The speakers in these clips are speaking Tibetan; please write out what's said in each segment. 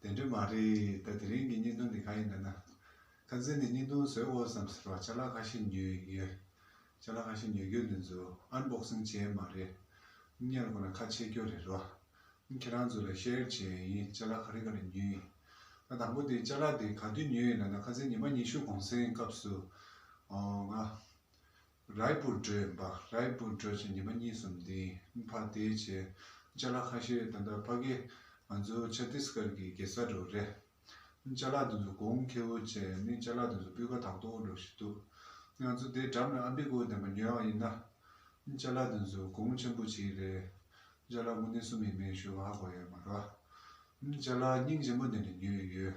དེ་འདྲ་མ་རེད་ད་དེ་རིང་གི་བརྙན་ཐུང་འདི་ག་ཡིན་འདོད་ན། ཁ་འཛིན་ནས་བརྙན་ཐུང་བཟོས་འོས་སམ་ཟེར་བ་ཆ་ལག་ཁ་ཤས་ཉོས་ཡོད། ཆ་ལག་ཁ་ཤས་ཉོས་རྒྱུ་འདི་ཚོ Unboxing བྱས་མ་རེད། བརྙན་ལ་གོ་ན་ཁ་ཕྱེ་རྒྱུ་རེད་རོ། ཁྱེད་རང་ཚོ་ལ Share བྱས་ཡིན་ཆ་ལག་ག་རེ་ག་རེ་ཉོས་ཡིན། ད་དང་པོ་དེ་ཆ་ལག་དེ་ག་དུས་ཉོས་ཡིན་འདོད་ན་ཁ་འཛིན་ཉི་མ་ཉི་ཤུ་གོང་སའི་སྐབས་སུ། ང། རཱའི་པུར་སྒྲོལ་འབའ་རཱའི་པུར་སྒྲོལ་བཅས་ཉི་མ་གཉིས་སམ་དེའི་ཕར་དེའི་རྗེས་ལྕ་ལག་ཁ་ཤས་ད་ལྟ་ཕ་གི་ང་ཚོའི་ཆ་ཏིས་ཀར་གྱི་གེ་སར་རུ་རེད། ལྕ་ལག་དེ་ཚོ་གོང་ཁེ་བོ་བཅས་ནི་ལྕ་ལག་དེ་ཚོ་སྤུས་ཀ་དག་ཏུ་འགྲོ་བཞིན་འདུག་ང་ཚོ་དེའི་འགྲམ་ལ་ཨ་འབི་ཀུའུ་འདེམས་པ་ཉོས་ཡོང་ཡིན་ན། ལྕ་ལག་དེ་ཚོ་གོང་ཆེན་པོ་བྱེད་ཀྱི་རེད། ལྕ་ལག་མུ་ནེ་གསུམ་ཡིན་མིན་ཞུ་བ་ཧ་གོ་ཡོད་མ་རོ། ལྕ་ལག་སྙིང་ཆེན་པོ་འདི་འདྲ་ཉོས་ཡོད།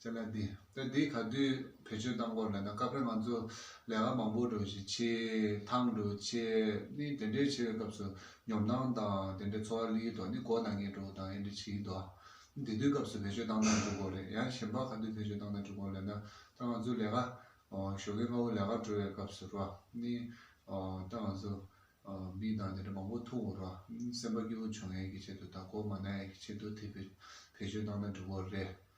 ཙེ་ལ་འདི། དོན་དེ་ག་དུས་བེད་སྤྱོད་གཏང་སྐོར་ལན་ན་སྐབས་རེ་ང་ཚོ་ལས་ཀ་མང་པོ་འགྲོ་བཞིན་མཆིས། ཐང་འགྲོ་ཆེད་ནི་དེ་འདྲའི་ཆེ་བའི་སྐབས་སུ་ཉོབ་སྣང་དང་དེ་འདྲའི་ཚོར་བ་ལི་ཡི་ཐོག་ནི་སྒོ་ནང་ངེད་འགྲོ་དང་ཡེ་འདྲ་ཆི་ཡི་འདུག་ཨ། དེ་དུས་སྐབས་སུ་བེད་སྤྱོད་གཏང་ན་འགྲུ་སྐོར་རེད་ཡང་གཞན་པ་ག་དུས་བེད་སྤྱོད་གཏང་ན་འགྲུ་སྐོར་ལན་ན་ད་ང་ཚོ་ལས་ཀ་ཞོགས་ཀའི་སྔ་བོ་ལས་ཀར་འགྲོ་བའི་སྐབས་སུ་རོ། ནི་ད་ང་ཚོ་མི་དང་དེ་འདྲ་མང་པོ་ཐུག་རོ། སེམས་པ་སྐྱོ་བོ་བྱུང་ཡས་ཀྱི་ཆེད་དུ་དང་སྒོ་མ་ན་ཡས་ཀྱི་ཆེད་དུ་དེ་བེད་སྤྱོད་གཏང་ན་འགྲུ་སྐོར་རེད།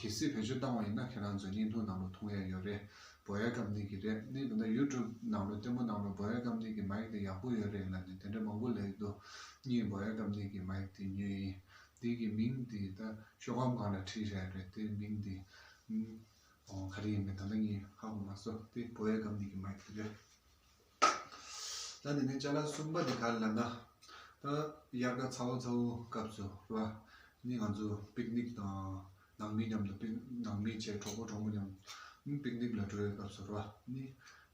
གལ་སྲིད་བོད་ཆོས་བཏང་བ་ཡིན་ན་ཁྱེད་རང་ཚོའི་བརྙན་ཐུང་ནང་ལོ་ཐུང་ཡག་ཡོད་རེད་བོད་ཡག་གམ་ནིག་གི་རེད་ནིག་འདི་འདྲ་ཡུ་ཀྲུབ་ནང་ལོ་ལྟད་མོ་གནང་རོགས་བོད་ཡག་གམ་ནིག་གི་མ་ཡིག་འདི་ཡག་པོ་ཡོད་རེད་ལ་ནི་དེ་འདྲ་མང་པོ་ལེགས་འདུག་གཉིས་བོད་ཡག་གམ་ནིག་གི་མ་ཡིག་འདི་ཉོས་ཡིན་འདི་གི་མིང་འདི་ད་ཤོ་གམ་གང་ལ་བྲིས་རེད་རེད་དེ་མིང་འདི་ཨང། ག་རེ་ཡིན་མིན་ད་ལྟ་ངས་ཧ་གོ་མ་སོ་དེ་བོད་ཡག་གམ་ནིག་གི་མ་ཡིག་འདི་རེད། ད་ནི་ནི་ལྕགས་ལ་གསུམ་པ་ནི་ག་ལ་ལབ་ན། ད་དབྱར་ཁ་ཚ་བོ་ཚ་བོ་སྐབས་སུ་རེད་པ། ནི་ང་ཚོ་པིག་ནིག་དང་ནང་མི་མཉམ་དུ་པིག་ནང་མི་བཅས་གྲོགས་པོ་གྲོགས་མོ་མཉམ་པིག་ནིག་ལ་འགྲོ་བའི་སྐབས་སུ་རེད་པ། ནི་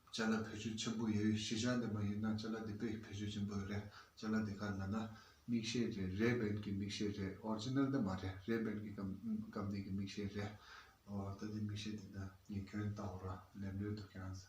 ལྕགས་ལ་བོད་ཆུ་ཆེན་པོ་ཡོད་གཞི་ཆགས་ནས་མ་ཡིན་ན་ལྕགས་ལ་འདི་དཔེ་བོད་ཆུ་ཆེན་པོ་རེད་ལྕགས་ལ་འདི་ག་ལ་ལབ་ན། མིག་ཤེལ་རེད་རེད་བན་གྱི་མིག་ཤེལ་རེད Original འདི་མ་རེད་རེད་བན་གྱི་སྐབས་ནས་ཀྱི་མིག་ཤེལ་རེད། ད་ནི་མིག་ཤེལ་འདི་ན་ངས་ཁྱོད་ལྟ་བུ་ར་ལས་ལོས་འདུག་ཀྱང།